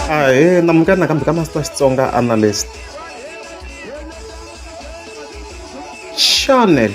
ahee namukani nakambe ka masita xitsonga analyst chanel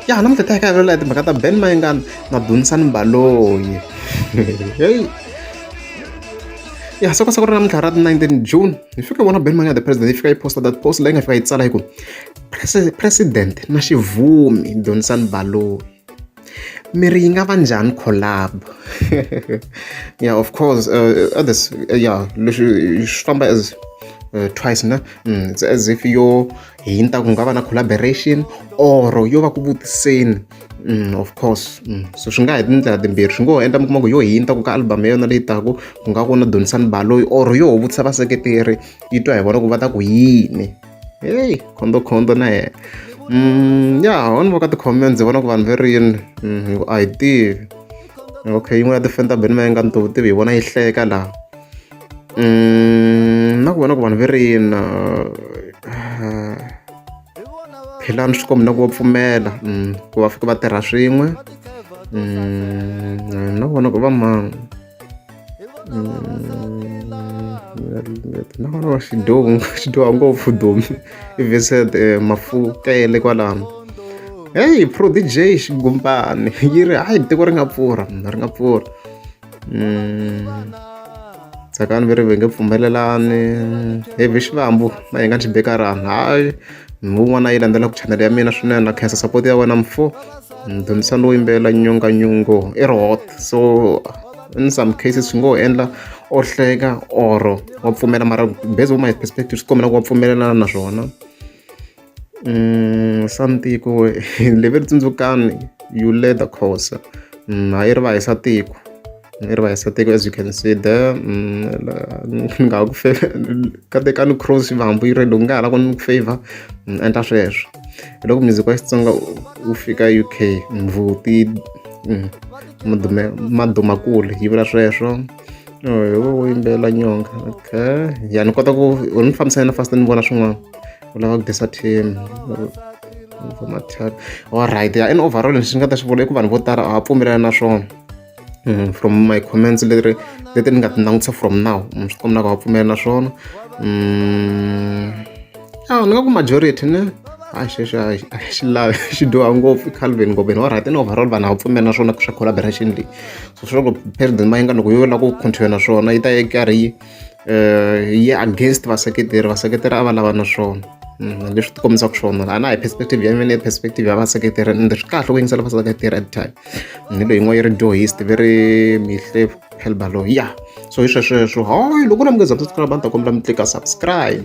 ya namuntlha ta ka lola timhaka ta ben mayengana na dunisani mbaloyi heyi ya soko soko ra namuntlha ra 19 june hi fika vona ben mayengana the president yi fika yi posta that post leyi nga fika yi tsala hi ku president na xivumi dunisani mbaloyi mi ri yi nga va njhani collab yeah of course uh, uh this uh, yeah leswi swi famba as uh, twice na mm, it's as if yo hinta ku nga va na collaboration or yo va ku vutiseni mm, of course mm. so swi nga hi tindlela timbirhi swi ngo ho endla mi kuma ku yo hinta ku ka album ya yona leyi taku ku nga ku na donisani baloyi or yo ho vutisa vaseketeri yi twa hi vona ku va ta ku yini heyi khondokhonto na yena um ya wona va ka tikhome ndzi vona ku vanhu ve rini mm, a hi tivi okay yin'wana ya tifeni ta beni mayenga ni to tivi hi vona yi hleka laha um na ku vona ku vanhu ve rini uh, philani swi kombi na ku va pfumela mm, ku va fike va tirha swin'we mm, na ku vona ku va mani no no xidyohi xi dyoha ngopfu domu i vincent um mafutha ya le kwalano heyi prodigy xigumbana yi ri hayi tiko ri nga pfurha mina ri nga pfurha tsakani va ri va nge pfumelelani heavy xivambu va hi nga ni xibekarhana hayi. ni wun'wana a yi landzelaka chanele ya mina swinene na khensa support ya wena mfo ni dyondzisa ni wo yimbelela nyonganyongo i ri hot so in some cases swi ngo endla o hleka or wa pfumela mara based on my perspective swi kombela ku wa pfumelelana na swona um santiko leve ri tsundzukani you led the course a yi ri va hisa tiko ni ri va hisateka as you can see there mm, ni nga ha ku katekani cross va hambi yi rendo nga ha la ku ni ku favor ni mm, endla sweswo hi loko music wa xitsonga wu fika u k mvuti mm, madumakulu yi vula sweswo hi wo wo yimbelela nyonga okay ya ni kota ku ni fambisa yena fast ni vona swin'wana u lava ku disa team all right ya in overall lexi ni nga ta xi vula i ku vanhu vo tala a va pfumelelani na swona Mm, from my comments leri leti ni nga ti langutisa from now mm, swi komba va pfumela na swona mm, a ni nga ku majority ne a xexo a xi lavi xi dyoha ngopfu i calvin ngobeni wa right ni overall vanhu a va pfumela na swona swa collaboration leyi so swi loko president ma yi nga loko yo lava ku continue na swona yi ta yi karhi yi eh, yi against vaseketeri vaseketeri a va lava na swona mm, leswi ti kombisaka swona a na hi perspective ya mina perspective ya vaseketeri ende swi kahle ku yingisela vaseketeri at time ni leyi yin'wana yi ri dohist ve ri mihle helbalo ya so hi swesweswo hayi loko na mi nga za subscribe a ni ta kombela mi tlika subscribe